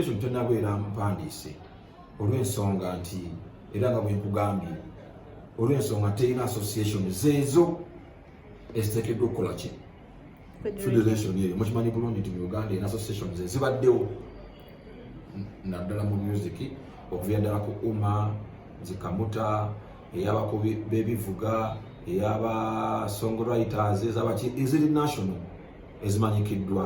Yesu tenabeera mpandiise olw'ensonga nti era nga bwe nkugambye olw'ensonga terina association zeezo eziteekeddwa okukola ki federation eyo mukimanyi bulungi nti mu uganda erina association ze zibaddewo naddala mu music okuvira ddala ku uma zikamuta eyabako bebivuga eyaba songwriters ezabaki eziri national ezimanyikiddwa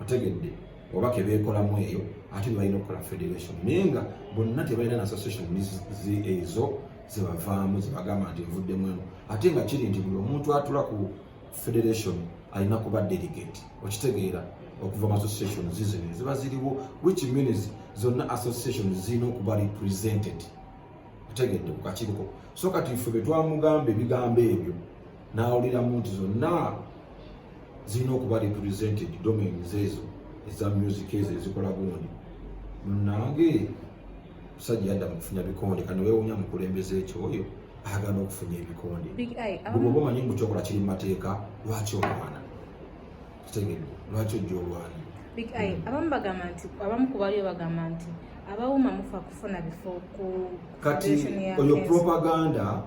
otegedde oba kebeekolamu eyo ate bebalina okukola federation naye nga bonna tebalina na association ezo zebavaamu zebagamba nti nvuddemu eno ate nga kiri nti buli omuntu atula ku federation alina kuba delegate okitegeera okuva mu association zizino ziba ziriwo which means zonna association zirina okuba represented otegedde ku kakiiko so kati ffe betwamugamba ebigambo ebyo n'awuliramu nti zonna zirina okuba represented domains ezo eza music ezo ezikola gundi munange musajja yadda mukufuna bikonde kano wewunya mukulembeza ekyo oyo agana okufunya ebikonde bwoba um, omanyi mbu kyokola kiri mumateeka lwaki olwana kitegedde lwaki ojja olwana big eye hmm. abamu bagamba nti abamu kubaliyo bagamba nti abawuma mufa kufuna bifo ku kati oyo propaganda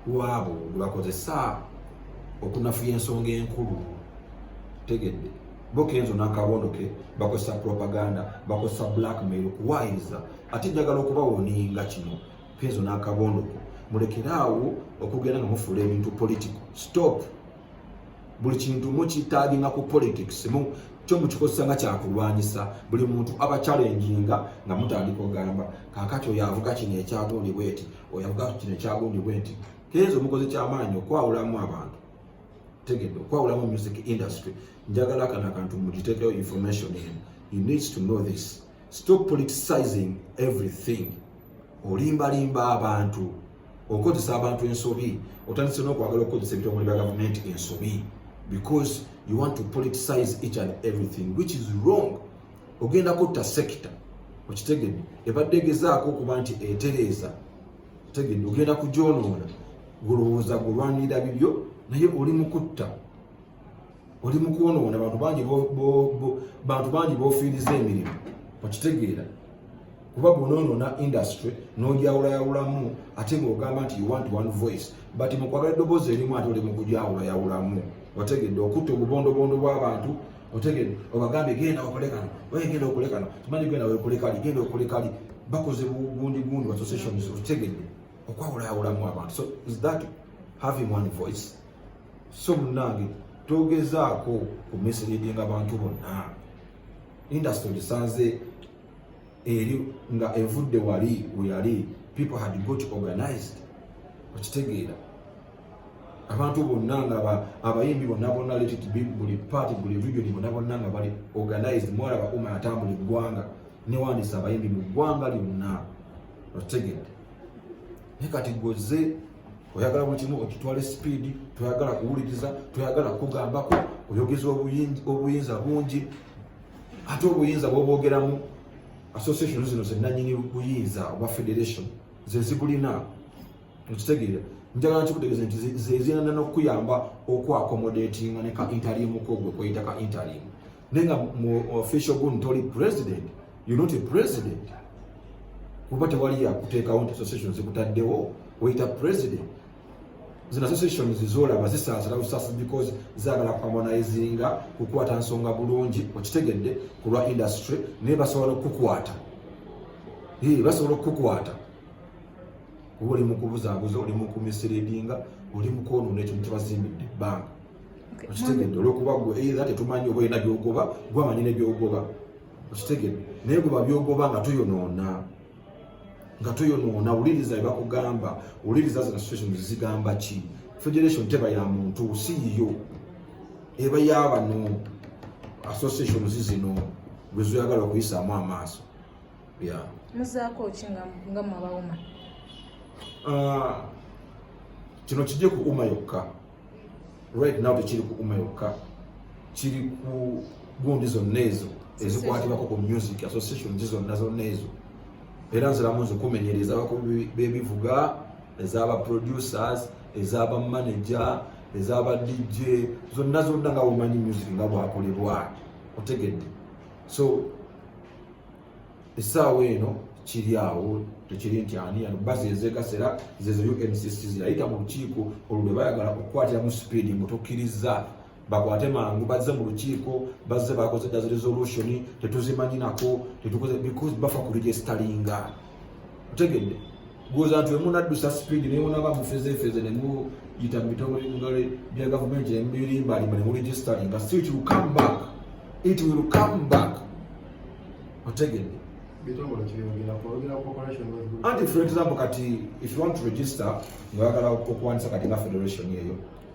lwabo lwebakozesa okunafuya ensonga enkulu tegedde bo kenzo nakabondo ke bakozesa propaganda bakozesa blackmail okuwayiriza ate njagala okubawoninga kino kenzo nakabondo ke mulekeraawo okugenda nga mufuula ebintu politico stop buli kintu mukitaginga ku politics mu kyo mukikozesa nga kyakulwanyisa buli muntu aba kyalenjinga nga mutandika ogamba kakati oyo avuga kino ekyatondibwa eti oyo avuga kino ekyagundi bwe nti kenzo mukoze kyamaanyi okwawulamu abantu tegedde okwawulamu music industry njagala kana kantu mugitekeyo information en you needs to know this stop politicizing everything olimbalimba abantu okozesa abantu ensobi otandise n'okwagala okukozesa ebitongole bya gavumenti ensobi because you want to politicize each and everything which is wrong ogenda kutta sekita okitegede ebadde egezaako okuba nti etereeza tegede ogenda kugyonoona gulowooza gulwanirira bibyo naye oli mukutta oli mukwonoona bantu bangi bantu bangi bofiiriza emirimu okitegeera kuba bwonoonona industry nojawulayawulamu ate ngaogamba nti you want one voice but mukwagala eddoboozi erimu ate oli mukujawulayawulamu otegedde okutta obubondobondo bw'abantu otegede obagambye genda okole kano oye genda okole kano tumanyi genda wekole kali genda okole kali bakoze bugundi gundi wa associations otegede okwawulayawulamu abantu so is that having one voice so munange togezaako kumeseredinga abantu bonna industry gisanze eri nga evudde wali weyali people had got organized okitegeera abantu bonna nga abayimbi bonna bonna letit buli party buli region bonna bonna nga bali organized mwalaba uma atambula eggwanga newandisa abayimbi mu ggwanga lyonna okitegedde naye kati gwoze oyagala buli kimu okitwale sipiidi toyagala kuwuliriza toyagala kugambako oyogeza obuyinza bungi ate obuyinza bwobwogeramu association zino zenanyini buyinza oba federation zezibulina okitegeera njagala nkikutegeze nti zezinana nokukuyamba okuakomodatinga neka intalimu kogwe kweyita ka intalimu naye nga mu official gun toli president you not a president kuba tewali yakuteekawo nti association zikutaddewo weyita president zino associations zolaba zisaasira busaasi because zaagala kwamba nayizinga kukwata nsonga bulungi okitegedde ku lwa industry naye basobola okukukwata basobola okukukwata oba oli mukubuzabuza oli mukumisiriidinga oli mukwonoona ekintu kyebazimbidde ebbanga okitegedde olwokuba gwe eitha tetumanyi oba olina byogoba gwamanyi nebyogoba okitegedde naye gwe babyogoba nga tuyonoona nga toyonoona wuliriza ebakugamba wuliriza zino situation zigamba ki federation teba ya muntu si yiyo eba yabano association zizino lwezoyagala okuyisaamu amaaso ya muzaako ki nga mwabawuma ah, kino kijje ku uma yokka right now tekiri kukuma yokka kiri ku gundi zonna ezo ezikwatibako ku music association zi zonna zonna ezo era nziramu nzikumenyera ezabakubi bebivuga ezaba producers ezaba manager ezaba dj zonna zonna nga womanyi music nga bwakolebwa otegedde so essaawa eno kiri awo tekiri nti ani ano basi ezegasera zezo uncc zirayita mu lukiiko olwo lwe bayagala okukwatiramu sipiidi mbu tokkirizza bakwate mangu bazze mu lukiiko bazze bakoze dazi resolution tetuzimanyinako tetukoze because bafa ku registeringa otegedde gwoza nti wemunaddusa sipiidi naye munaba mufezefeze nemuyita mu bitongole ngale bya gavumenti nemubirimbalimba nemuregisteringa still it will come back it will come back otegedde anti for example kati if you want to register ngaoyagala okuwanisa kati nga federation eyo